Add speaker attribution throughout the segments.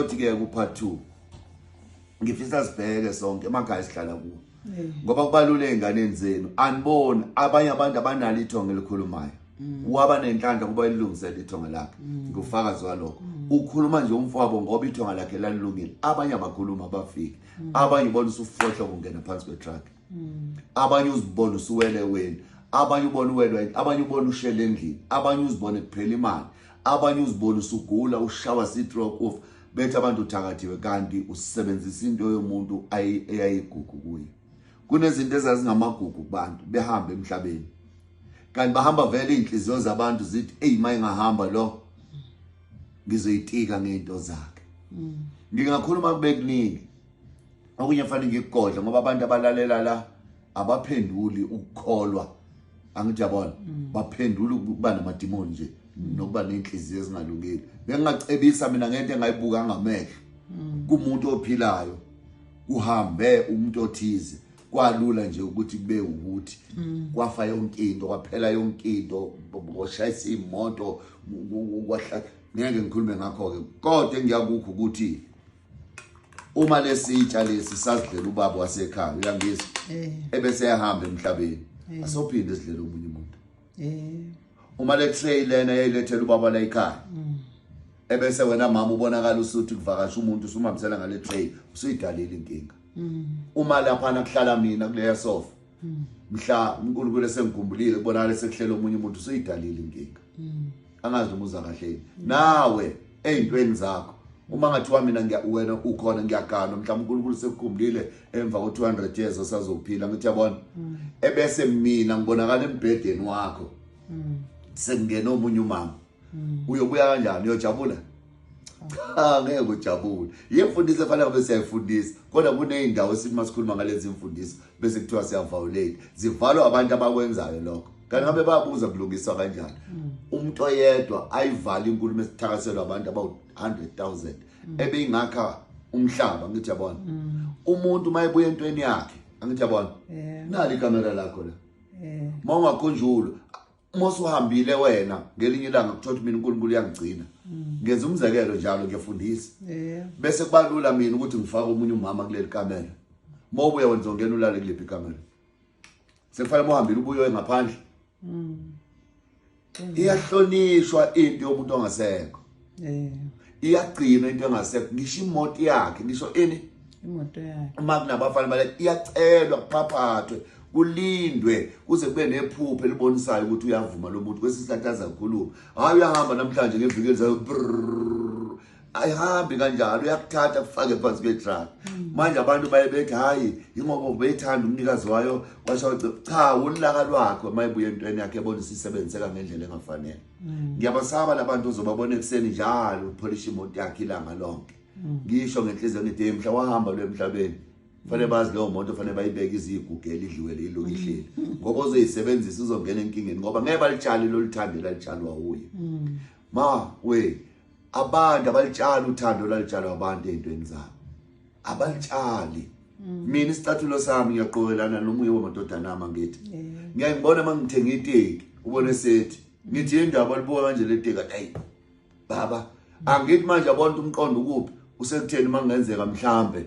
Speaker 1: Othi ke ku part 2 ngifisa sibheke sonke emakhaya sihlala kuwo ngoba kubalule enganeni zenu aniboni abanye abantu abanalo ithonga elikhulumayo mm. waba nenhlanhla kuba ilungisele ithonga lakhe mm. ngufakazi walokho mm. ukhuluma nje umfowabo ngoba ithonga lakhe lalilungile abanye abakhuluma abafiki abanye bona usufohla kungena phansi kwetruck mm. abanye uzibona usuwele weni abanye ubona uwelwa abanye ubona ushele endlini abanye uzibona kuphela imali abanye uzibona usugula ushawa sitroke of bethi abantu uthakathiwe kanti usebenzisa into yomuntu eyayigugu kuye kunezinto ezazingamagugu kubantu behamba emhlabeni kanti bahamba vele izinhliziyo zabantu zithi hey mayingahamba lo ngizoyitika ngento zakhe mm. ngingakhuluma kubekuningi okunye fanele ngikugodle ngoba abantu abalalela la abaphenduli ukukholwa angithi yabona mm. baphendula ukuba namadimoni nje mm. nokuba nenhliziyo ezingalungile bengingacebisa mina ngento engayibuka ngamehlo mm. kumuntu ophilayo kuhambe umuntu othize kwalula nje ukuthi kube ukuthi kwafa yonke into kwaphela yonke into kwashayisa imoto kwahlala ngeke ngikhulume ngakho-ke kodwa engiyakukho ukuthi uma lesitsha lesi sasidlela ubaba wasekhaya uyangizwa eh. ebese ehamba emhlabeni eh. asophinde sidlela omunye umuntu eh. uma le tray lena yayilethela ubaba la ekhaya mm. ebese wena mama ubonakala usuthi kuvakasha umuntu usumhambisela ngale tray usuyidalile inkinga mm. uma lapha nakuhlala mina kuleya sofa mm. mhla uNkulunkulu esengikhumbulile kubonakala sekuhlela omunye umuntu usuyidalile inkinga mm. angazi noma uza kahle yini mm. nawe ezintweni zakho uma ngathiwa mina ngiya wena ukhona ngiyagana mhlawumbe uNkulunkulu sekukhumbulile emva ko 200 years osazophila ngithi yabona mm. ebese mina ngibonakala embhedeni wakho mm. sengena omunye umama mm. uyobuya kanjani uyojabula cha ngeke ujabule yimfundiso efanele kube siyayifundisa kodwa kuney'ndawo esithi uma sikhuluma ngalezi mfundiso bese kuthiwa siyaviolate zivalwa abantu abakwenzayo lokho kanti ngabe bayabuza kulungiswa kanjani mm. umuntu oyedwa ayivale inkulumo esithakaselwa abantu about 100,000 mm. ebeyingakha umhlaba ngithi yabona mm. umuntu mayebuya entweni yakhe angithi yabona nali ikamera lakho la mawungakhunjulwa uma usuhambile wena ngelinye ilanga kuthola mina uNkulunkulu uyangigcina mm. ngenza umzekelo njalo ngiyafundisa bese kubalula mina ukuthi ngifake umunye umama kuleli kamera uma ubuya wenza ongena ulale kulephi ikamera sekufanele uhambile ubuye ngaphandle mm. iyahlonishwa into yomuntu ongasekho eh iyagcina into engasekho ngisho imoto yakhe ngisho ini imoto
Speaker 2: yakhe uma kunabafana bale
Speaker 1: iyacelwa kuphaphathwe kulindwe kuze kube nephupho elibonisayo ukuthi uyavuma lo muntu kwesisikhathi azakhuluma hayi uyahamba namhlanje ngeviki elizayo ayihambi kanjalo uyakuthatha kufake phansi kwetruck hmm. manje abantu baye bethi hayi yingoba ubeyithanda umnikazi wayo washo cha ulaka lwakho mayibuye entweni yakhe ebonisa isebenziseka ngendlela engafanele mm. ngiyabasaba labantu ozobabona ekuseni njalo upholish imoto yakhe ilanga lonke mm. ngisho ngenhliziyo ngithi hey mhla wahamba lo emhlabeni fanele mm. bazi leyo moto fanele bayibeke izigugu elidliwe lelo ihleli ngoba ozoyisebenzisa uzongena enkingeni ngoba ngeke balitshali lolithande lalitshalwa wuye ma we abantu abalitshali uthando lalitshalo abantu ezintweni zabo abalitshali mm. mina isicathulo sami ngiyaqokelana nomunye wamadodana ama ngithi ngiyayibona mangithenga iteki ubone sethi ngithi indaba alibuka kanje leteka hey baba angithi manje abonto umqondo ukuphi usekutheni mangenzeka mhlambe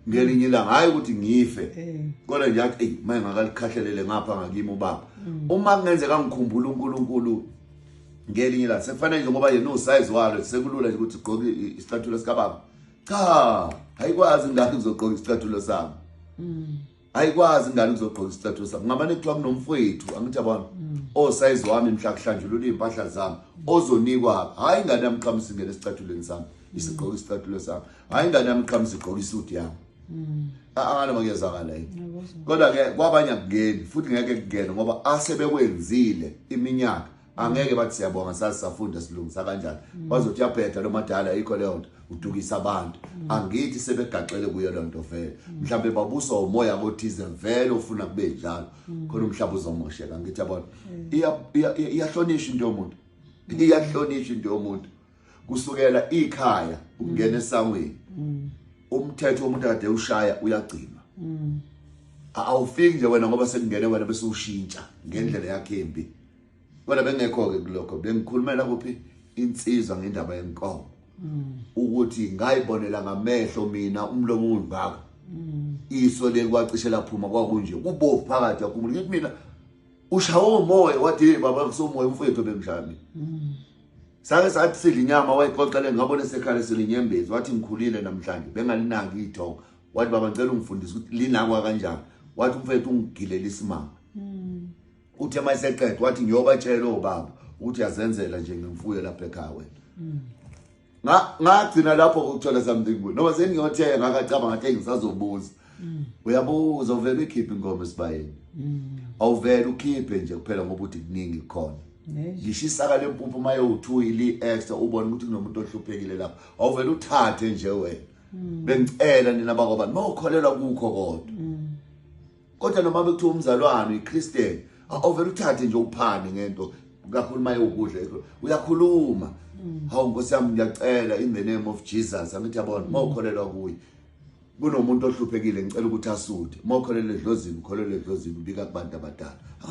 Speaker 1: ngelinye ilanga hayi ukuthi ngife eh. kodwa nje athi hey maye ngakalikhahlelele ngapha ngakimi ubaba mm. uma kungenzeka ngikhumbula uNkulunkulu ngelinye la sekufanele nje ngoba yena usize walo sekulula nje ukuthi ugqoke isicathulo sikababa cha ayikwazi ingane kuzogqoka isicathulo sami mm. ayikwazi ingane kuzogqoka isicathulo sami ngamane kuthiwa kunomfowethu angithi yabona mm. osayizi wami mhla kuhlanjulula iy'mpahla zami ozonikwa hhayi ingane yami qhamusi ingene esicathulweni sami isigqoka isicathulo sami hhayi ingane yami qhamusi igqoka isuti yami Mm. Akana makuyezakala yini. Kodwa ke kwabanye akungeni futhi ngeke kungene ngoba asebekwenzile iminyaka angeke bathi siyabonga sasafunda silungisa kanjani mm. bazothi yaphetha lo madala ikho leyo nto udukisa abantu mm. angithi sebegaxele kuyo loo nto vele mm. mhlawumbe babuswa umoya kothize vele ufuna kube njalo khona umhlawumbe uzomosheka angithi yabona iyahlonishwa into yomuntu iyahlonishwa into yomuntu kusukela ikhaya ukungena mm. esangweni mm. umthetho womuntu akade ushaya uyagcinwa mm. awufiki nje wena ngoba sekungene wena bese ushintsha ngendlela yakhe embi kodwa bengekho-ke kulokho bengikhulumela kuphi insizwa ngendaba yenkomo ukuthi ngayibonela ngamehlo mina umlomo ungaka iso leli kwacishe laphuma kwakunje kubovu phakathi yakhumula ngithi mina ushawo umoya wathi baba kusomoya umfowethu bengishaya mina sake sathi sidla inyama wayixoxele ngabona esekhale selinyembezi wathi ngikhulile namhlanje bengalinaki ithongo wathi baba ngicela ungifundise ukuthi linakwa kanjani wathi umfethu ungigilela isimanga hmm. uthe uma eseqeda wathi ngiyobatshela obaba ukuthi yazenzela nje ngemfuyo lapha ekhaya wena hmm. ngagcina lapho ukuthola something good noma sengiyothenga ngakacabanga ngathi ngisazobuza mm. uyabuza uvele uyikhiphe ingoma esibayeni mm. awuvele ukhiphe nje kuphela ngoba uthi kuningi khona ngisho isaka lempuphu uma yowu-two ili-extra ubone ukuthi kunomuntu ohluphekile lapho awuvele uthathe nje wena mm. bengicela nina bakobani mawukholelwa kukho kodwa kodwa noma bekuthiwa umzalwane uyiChristian awuvele uthathe nje uphane ngento kakhulu maye ukudla uyakhuluma mm. hawu nkosi yami ngiyacela in the name of Jesus angithi yabona mawukholelwa kuye kunomuntu ohluphekile ngicela ukuthi asude mawukholelwa edlozini ukholelwa edlozini ubika kubantu abadala